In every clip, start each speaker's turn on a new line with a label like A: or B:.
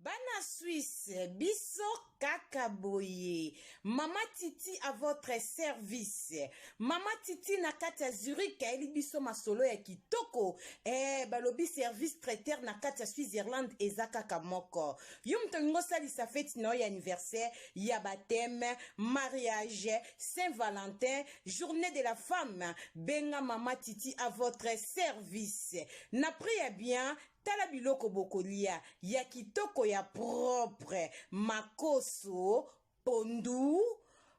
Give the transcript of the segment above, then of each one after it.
A: Bana Suisse, biso kaka boye. Mama Titi à votre service. Mama Titi na kati ya Zurich ayeli biso masolo ya kitoko. Eh, balobi service traiteur na kati ya Switzerland eza kaka moko. Yo moto olingi osalisa feti na yo ya anniversaire, ya baptême, mariage, Saint Valentin, journée de la femme, benga Mama Titi à votre service. Na prix ya bien, Tala biloko bokolia ya kitoko ya propre, makoso, pondu,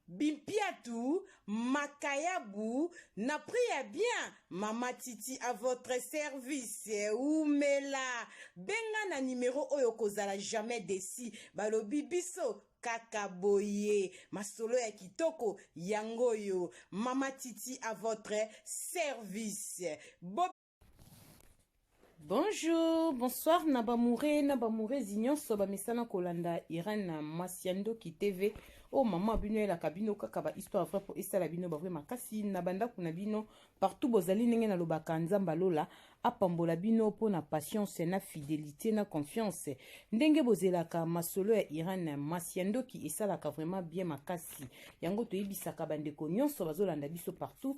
A: bimpiatu, makayabu na prix ya bien. Mama Titi à votre service. Wumela. Benga na numero oyo okozala jamais desi. Balobi biso kaka boye masolo ya kitoko yango oyo mama titi à votre service Bo Bonjour, bonsoir na bamoure na bamourezi nyonso bamesana kolanda Irène na mwasi ya ndoki TV. Oh maman bino elaka bino kaka ba histoire vrai po esala bino ba vrai makasi na bandako na bino partout bozali ndenge na lobaka nzamba lola apambola bino po na patience na fidelité na confiance ndenge bozelaka masolo ya Irène mwasi ya ndoki esalaka vraiment bien makasi yango toyebisaka bandeko nyonso bazolanda biso partout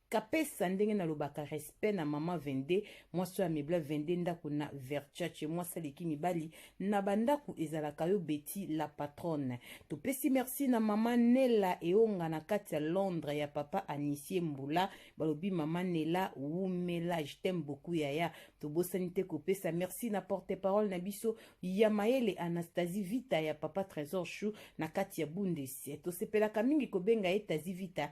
A: Kapesa ndenge na lobaka respect na maman 22 mwasi oyo amebla 22 ndako na Verchace mwasi aleki mibali na bandaku ezalaka yo Betty la patronne topesi merci na mama Nela eonga na kati ya Londres ya papa Anisie Mbula balobi mama Nela wumela je t'aime beaucoup yaya tobosani te kopesa merci na porte parole na biso ya mayele Anastasie Vita ya papa Trésor Chou na kati ya Bundes tosepelaka mingi kobenga ye Tazi Vita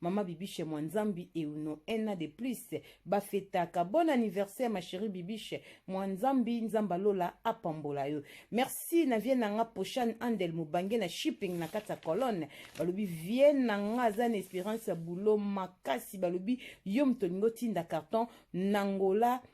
A: Maman Bibiche Mwanzambi et Uno un an de plus bafetaka. Bon anniversaire ma chérie Bibiche Mwanzambi Nzamba Lola apambola yo. Merci na vie nanga Poshan Andel Mubange na shipping na kati ya colonne. Balobi vie nanga aza na espérance ya boulot makasi balobi yo moto olingo tinda carton nangola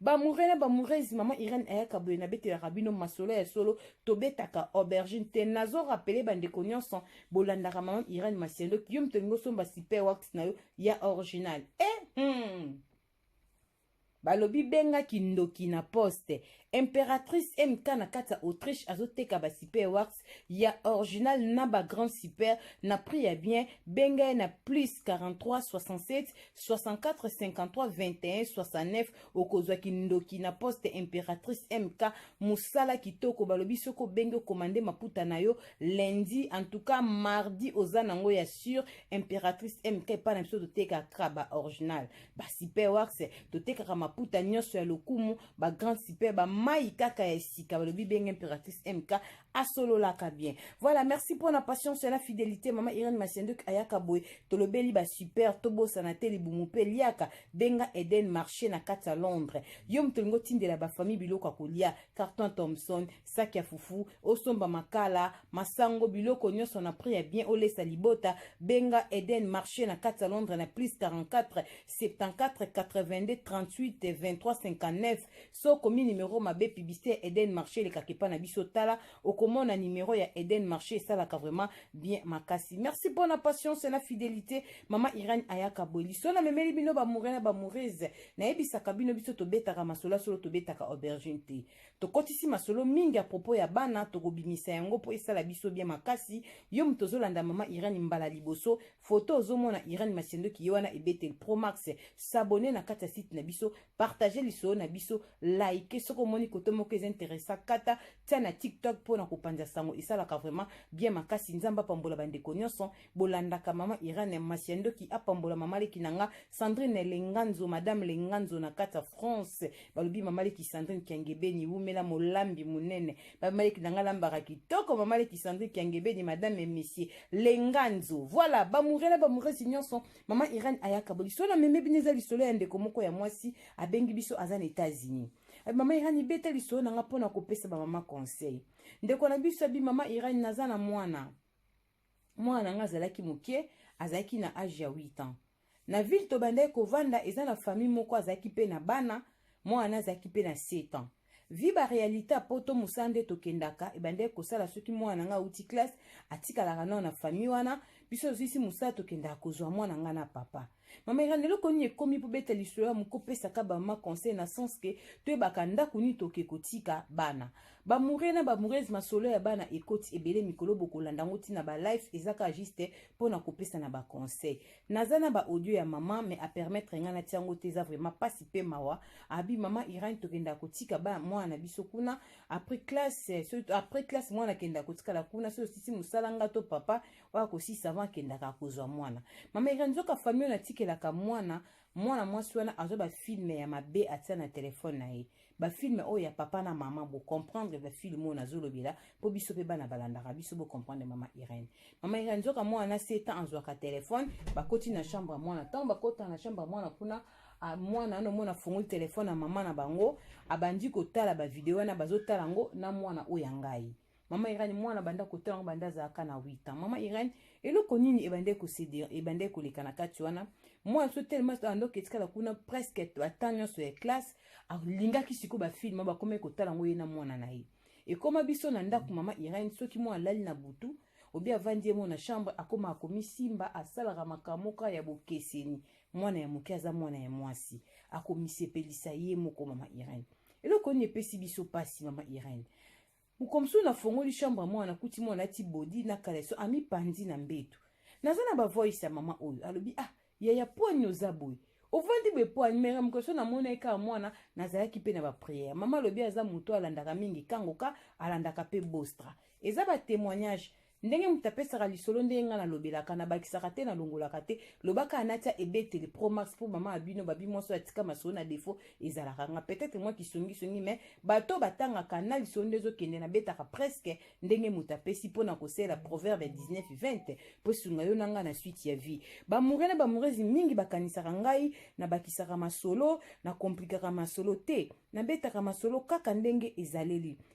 A: Bamoure na bamourezi mama Irene ayaka boye nabetelaka bino masolo ya solo tobetaka aubergine te nazo rapele bandeko nyonso bolandaka mama Irene Masiendo yo moto olingi osomba super wax na yo ya original eh, hmm. balobi benga kindoki na poste imperatrice mk na kati ya autriche azoteka basiper wax ya original na ba grand super na prix ya bien benga ye na plus 43 67 64 53 21 69 okozwa kindoki na poste imperatrice mk mosala kitoko balobi soki obengi okomande maputa na yo lundi en tout cas mardi oza nango ya sur imperatrice mk epai na biso totekaka ba original ba super wax totekaka maputa nyonso ya lokumu ba grande super ba mai kaka ya sika balobi benge impératrice mk asololaka bien voilà merci mpo na patience na fidélité mama irene masienduk ayaka boye tolobeli ba super tobosana te libumu mpe liaka benga eden marché na kati ya londres yo moto olingi otindela bafamille biloko ya kolia carton thomson saki ya fufu osomba makala masango biloko nyonso na prix ya bien olesa libota benga eden marché na kati ya londres na plus 44 74 82 38 23 59 so okomi numero mabe publicité ya eden marché elekaka epa na biso tala okomona numero ya eden marché esalaka vraiment bien makasi merci mpo na patience na fidelité mama irene ayaka bweli so namemeli bino bamoure na bamourese nayebisaka bino biso tobetaka masolo ya solo tobetaka aubergine te Tokotisi masolo mingi à propos ya bana tokobimisa yango po esala biso bien makasi. Yo moto ozolanda mama Irène mbala liboso, photo ozomona Irène Masiandoki ye wana ebetel Pro Max. S'abonner na kati ya site na biso, partager lisolo na biso, liker soki omoni koto moko eza interessa kata tia na TikTok po na kopanza sango esalaka vraiment bien makasi. Nzambe apambola bandeko nionso. bolandaka mama irene masi ya ndoki apambola mama leki na nga sandrine lenganzo madame lenganzo na kati ya france balobi mama leki sandrine kiangebeni wumela molambi monene mama leki na nga lambaka kitoko mama leki sandrine kiangebeni madame et monsieur lenganzo voilà bamoure na bamouresi nyonso mama irene ayaka bo lisolo na meme bino eza lisolo ya ndeko moko ya mwasi abengi biso aza na etats-unis eh, mama irene ibeta lisolo na nga mpo na kopesa bamama conseil ndeko na biso abi mama irene naza na mwana mwana na ngai azalaki moke azalaki na age ya 8 ans na ville tobandaki kovanda eza na famille moko azalaki mpe na bana mwana na azalaki mpe na 7 ans vi barealité ya poto mosala nde tokendaka ebandaki kosala soki mwana na ngai auti classe atikalaka nao na famille wana biso tozwisi mosala tokendaka kozwa mwana ngai na papa Mama Irene, eloko nini ekomi po beta lisolo ya moko pesa ka ba ma conseil na sens que toyebaka ndako nini toke kotika bana. Ba mure na ba mureuses masolo ya bana ekoti ebele mikolo bokolanda ngo tina ba life ezaka juste pona kopesa na ba conseil. Naza na ba audio ya mama mais a permettre nga na tiango te eza vraiment pasi pe mawa. Abi mama Irene tokenda kotika ba mwana na biso kuna après classe après classe mwana kenda kotikala kuna so sisi musala nga to papa oyo akosisa avant akendaka akozwa mwana mama ira nzoka famille oyo natikelaka mwana mwana mwasi wana azwa bafilme ya mabe atia na telefone na ye bafilme oyo ya papa na mama bocomprendre bafilme oyo nazolobela mpo biso mpe bana balandaka biso bocomprendre mama irene mama irene nzoka mwana na setan azwaka telefone bakoti na chambre ya mwana ntango bakotana na chambre ya mwana kuna ah, mwana ano mona afungoli telefone ya mama na bango abandi kotala bavideo wana bazotala yango na mwana oyo ya ngai Maman Irène mwana banda kotala ngo banda azalaka na 8 ans. Maman Irène eloko nini ebandaki kosedere ebandaki koleka na kati wana mwana so tellement andoki etikala kuna presque ata nyonso ya classe alingaki sikoyo bafilme bakomaki kotala ngo ye na mwana na ye ekoma biso na ndako mama Irène soki mwana alali na butu obi avandi ye moko na chambre akoma akomisimba asalaka makambo moko ya bokeseni mwana ya moke aza mwana ya mwasi akomisepelisa ye moko mama Irène eloko nini epesi biso mpasi mama Irène Mokomsu na fongoli chambre ya mwana nakuti mwana alati body na caleçon ami panzi na mbetu. Naza na ba voice ya mama oyo alobi ah yaya pwani oza boye ovandi boye pwani mera mokomsu na mona ye kaka mwana nazalaki mpe na ba prière. Mama alobi aza moto alandaka mingi kangoka alandaka mpe bostra. Eza ba témoignage Ndenge moto apesaka lisolo ndenge ngai nalobelaka, nabakisaka te, nalongolaka te. Loba kaka natia ebeteli Pro Max mpo mama abino babi mwasi oyo atika masolo na defaut ezalaka nga. Peut-etre mwa kisongisongi mais bato oyo batangaka na lisolo nde ezokende nabetaka presque ndenge moto apesi mpo na kosalela proverbe ya 19-20 mpo esunga yo na ngai na suite ya vie. B'amoureux na b'amoureuse mingi bakanisaka ngai nabakisaka masolo, nakomplikaka masolo. Te, nabetaka masolo kaka ndenge ezaleli.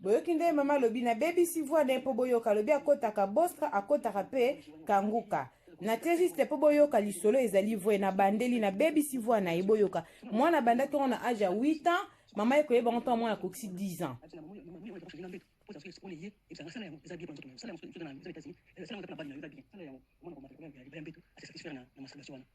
A: boyoki nde mama alobi nabebisi voix ne mpo boyoka alobi akotaka bostra akotaka mpe kanguka natie juste mpo boyoka lisolo ezali vrai nabandeli nabebisi voix na ye boyoka mwana abanda ntongo na age ya 8 ans mama ye koyeba ngo ntango mwana akokisi 10 ans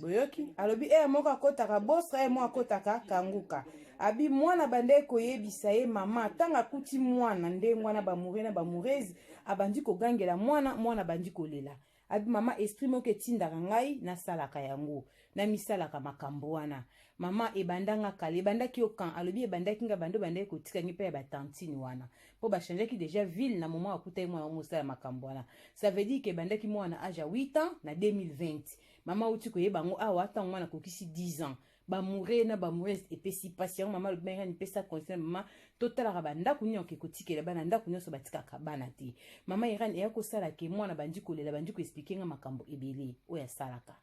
A: boyoki alobi eye moko akotaka bostra eye moko akotaka kanguka abi mwana banda ekoyebisa ye mama ntango akuti mwana ndenge wana bamoure na bamourese abandi kogangela mwana mwana abandi kolela abi mama esprit moko etindaka ngai nasalaka yango namisalaka makambo wana mama ebandanga kala ebandaki yo kan alobi ebandaki ngai bando bandaki kotika ngai mpe ya batantine wana po ba changeaki deja ville na moment akutaki mwana yango mosala makambo wana ça veut dire que ebandaki mwana na age ya 8 ans na 2020 mama auti koyeba yango awa ntango mwana akokisi 10 ans bamoure na bamourese epesi mpasi yango mama alobi ngai nipesa conseil mama totalaka bandako nini oke kotikela bana ndako nyonso batikaka bana te mama iran eya kosala ke mwana bandi kolela bandi koexplike nga makambo ebele oyo asalaka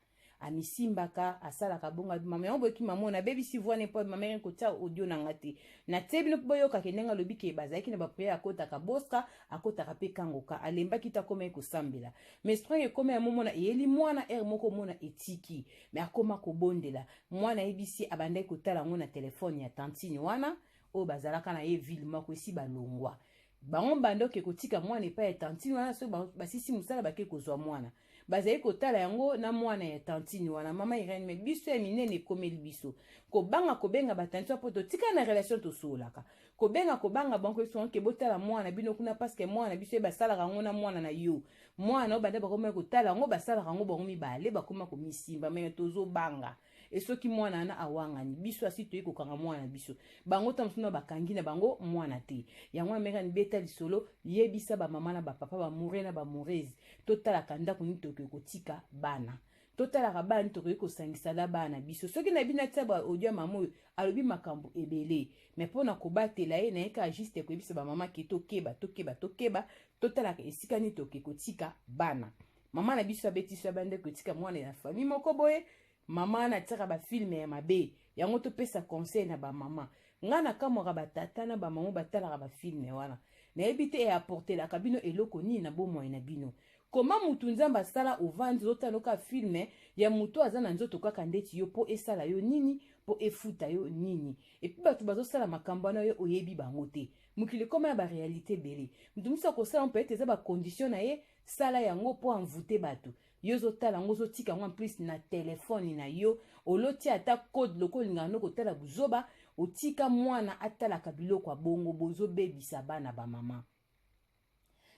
A: amisimbaka asalaka bongo abi mama yango boyoki mama oyo nabebisi voix ne mpo mama yaki kotia audio na nga te natie bino mpo boyoka ke ndenge alobi ke bazalaki na bapriere akotaka bostra akotaka mpe kangoka alembaki te akomaki kosambela mais strong ekomi ya momona eyeli mwana ere moko omona etiki mais akoma kobondela mwana ayebisi abandaki kotala yango na telefone ya tantine wana oyo bazalaka na ye ville moko esi balongwa bango mbanda oke kotika mwana epai ya tantine wana soki basisi mosala bake kozwa mwana bazali kotala yango na mwana ya tantine wana mama irene me biso ya minene ekomeli biso kobanga kobenga batantine mpo totika na relation tosololaka kobenga kobanga bango esoke botala mwana bino kuna paske mwana biso ye basalaka yango na mwana na yo mwana oyo banda bakomaki kotala yango basalaka yango bango mibale bakoma komisimba me tozobanga e soki mwana wana awangani biso asi toyei kokanga mwana na biso bango ntango mosusu na bakangi na bango mwana te yango amerikani beta lisolo yebisa bamama na bapapa bamure na bamurese totalaka ndako nini tokoki kotika bana totalaka bana nini tokoki kosangisa na bana na biso soki nayebi natia baaudio ya mama oyo alobi makambo ebele me mpo na kobatela ye naye kaka juste koyebisa bamama ke tokeba tokeba tokeba totalaka esika nini tokoki kotika bana mama na biso abetisi ya bandeko etika mwana ya famille moko boye mama wana atiaka bafilme ya mabe yango topesa conseil na bamama ngai nakamwaka batata na bamama batalaka bafilme wana nayebi te eaportelaka bino eloko nini na bomoi na bino koma mutu nzambe asala ovandi ozotala kaka filme ya moto aza na nzoto kaka ndeti yo mpo esala yo nini mpo efuta yo nini epi bato bazosala makambo wana yo oyebi bango te mokili ekoma ya barealité ebele moto mosusu akosala mpe ete eza bakondition na ye sala yango mpo envoute bato yo ozotala yango ozotika yango plus na telefone na yo olotia ata code loko olingaka nde kotala buzoba otika mwana atalaka biloko ya bongo bozobebisa bana bamama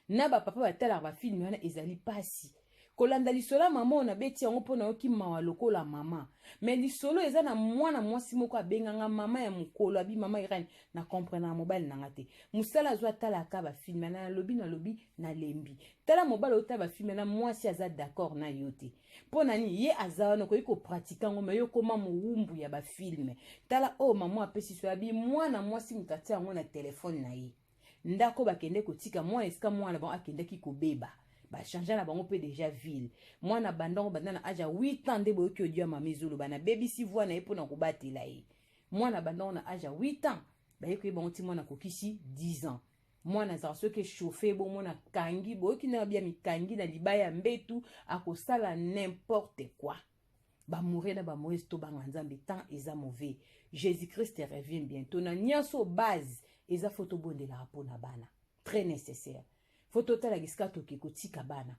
A: na bapapa batalaka bafilme wana ezali mpasi kolanda lisolo ya mama oyo nabeti yango mpo nayoki mawa lokola mama me lisolo eza na mwana mwasi moko abenganga mama ya mokolo abi mama irene na comprendre na mobali na nga te musala azwa atalaka bafilme na nalobi nalobi nalembi tala mobali otala bafilme na mwasi aza d'accord na yo te mpo na nini ye aza wana okoki kopratike yango me yo koma mowumbu ya bafilme tala oyo oh, mama apesi so yabi mwana mwasi moto atia yango na telefone na ye ndako bakende kotika mwana esika mwana bango akendaki kobeba bachange na bango mpe deja ville mwana bandango banda na age ya 8 ans nde boyoki odio ya mama ezoloba nabebisi voi na ye mpo na kobatela ye eh. mwana abandako na age ya 8 ans baye koyeba yango ti mwana akokisi 10 ans mwana azalaka soki echauffe bomona akangi boyoki na bia mikangi na libaya ya mbetu akosala n'importe quoi bamoure na bamoise tobanga nzambe temps eza mauvais jésus christ revient bientôt na nyonso base eza fo tobondelaka mpo na bana très nécessaire fo totalaka esika toke kotika bana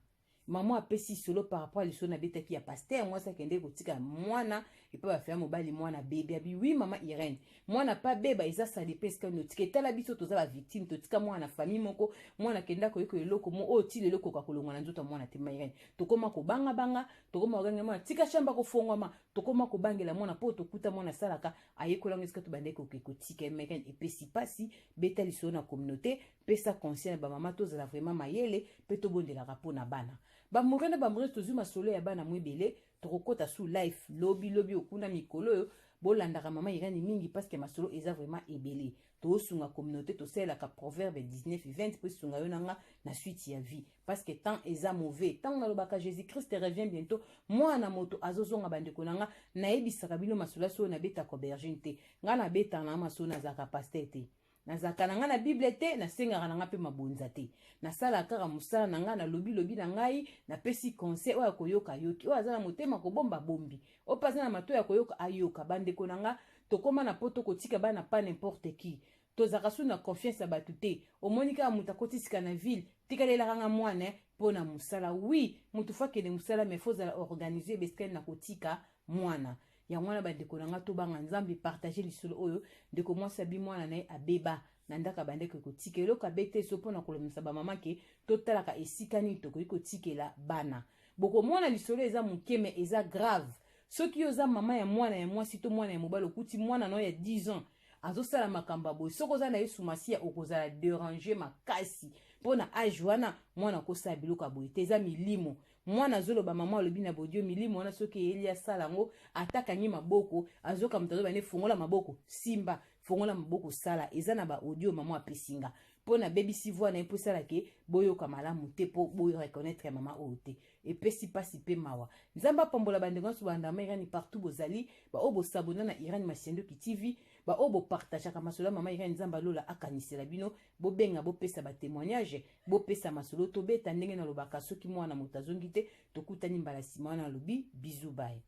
A: Maman apesi solo par rapport à lisolo nabetaki ya pasteur mwasi akendeki kotika mwana epa bafela mobali mwana bebe abi oui mama irene mwana pa beba eza sali mpe esika notika etala biso toza bavictime totika mwana na famille moko mwana akenda koyeko eloko mo oyo ti lelo koka kolongwa na nzoto ya mwana te mama irene tokoma kobangabanga tokoma kogangela mwana tika shamba kofongwama tokoma kobangela mwana mpo tokuta mwana asalaka ayekola yango esika tobandaki koke kotika mama irene epesi mpasi beta lisolo na communauté pesa conseil na bamama tozala vraiment mayele mpe tobondelaka mpo na bana bamore na bamorese tozwi masolo ya bana mwebele tokokota su life lobi lobi okuna mikolo oyo bolandaka mama irani mingi parce que masolo eza vraiment ebele tosunga communauté tosalelaka proverbe 19 20 mpo esunga yo na nga na suite ya vie parce que temps eza mauvais ntango nalobaka jésus christ revient bientôt mwana na moto azozonga bandeko na nga nayebisaka bino masolo ya solo nabetaka aubergine te ngai nabetaka na masolo nazalaka pasteur te nazalaka na ngai na bible te nasengaka na ngai mpe mabonza te nasalaka kaka mosala na ngai nalobi lobi na ngai napesi conseil oyo akoyoka ayoki oyo aza na motema kobomba bombi oyo mpe aza na mato ya koyoka ayoka bandeko na ngai tokóma na poto kotika bana pa n'importe qui tozalaka su na confiance ya bato te omoni kaka moto akotisika na ville tikala elaka nga mwana eh, mpo na mosala wi moto fo akende mosala mai fo ozala organise bescale na kotika mwana yango wana bandeko na nga tobanga nzambe partage lisolo oyo ndeko mwasi abi mwana na ye abeba na ndako abandaki kotika eloko abete so mpo na kolomisa bamama ke totalaka esika nini tokoki kotikela bana bokomona lisolo eza moke me eza grave soki yo oza mama ya mwana ya mwasi to mwana ya mobali okuti mwana na yo ya 10 ans azosala makambo ya boye soki oza na yesu masiya okozala derange makasi mpo na age wana mwana akosala biloko ya boye te eza milimo Mwana azoloba mama alobi na bodio milimo wana soki eyeli asala yango ata kangi maboko azoka moto azoba ne fongola maboko simba fongola maboko sala eza na ba audio mama apesinga mpo na baby sivwa na ye mpo esala ke boyoka malamu te mpo boreconnaitre ya mama oyo te epesi mpasi mpe mawa nzambe apambola bandeko nyonso bandama irani partout bozali baoyo bosabona na irani masiandoki tv baoyo bopartageaka masolo ya mama irani nzambe alola akanisela bino bobenga bopesa ba témoignage bopesa masolo tobeta ndenge nalobaka soki mwana moto azongi te tokutani mbala nsima wana alobi bizu baye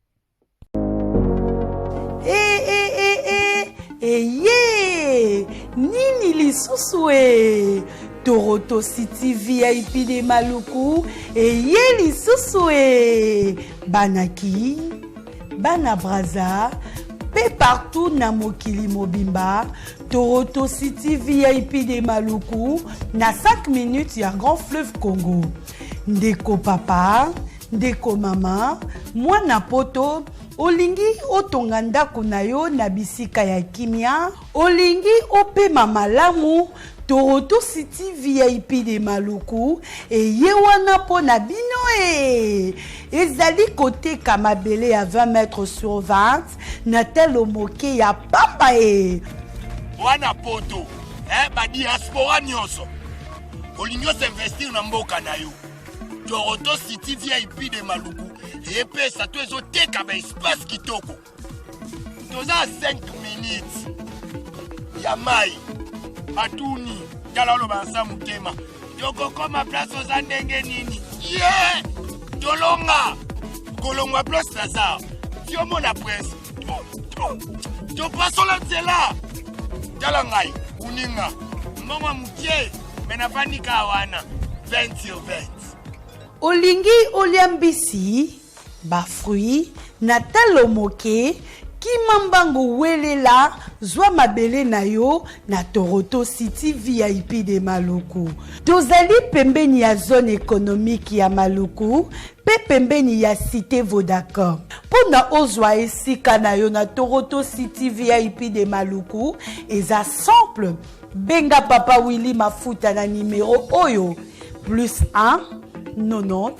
A: hey, hey, hey,
B: hey. eye nini lisusu e toroto city vip de maluku eye lisusu e banaki Bana Brazza pe partout na mokili mobimba Toronto City VIP de Maluku na 5 minutes ya Grand Fleuve Congo. Ndeko papa, ndeko mama, mwana poto olingi otonga ndako na yo na bisika ya kimia Olingi opema malamu? Toronto City VIP de Maluku eye wana mpo na bino ee. Ezali koteka mabele ya 20 mètres sur 20 na talo moke ya pamba ee. Wana
C: poto eh, ba diaspora nyonso olingi osinvestir na mboka na yo Toronto City VIP de Maluku epesa to ezoteka ba espace kitoko toza 5 minutes ya mai batuni tala oloba nsa motema tokokoma place oza ndenge nini ye yeah! tolonga kolongwa place naza tiomona prince topasola nzela tala ngai kuninga mbongo moke me nafandi kaa wana 20 sur 20 olingi
B: olia mbisi Ba fruits na talo moke Kima mbangu welela zwa mabele na yo na Toroto City vip de Maluku. Tozali pembeni ya zone economique ya Maluku pe pembeni ya cite Vodacom. Mpo na ozwa esika na yo na Toroto City vip de Maluku eza simple benga papa Willy Mafuta na numero oyo plus 1 90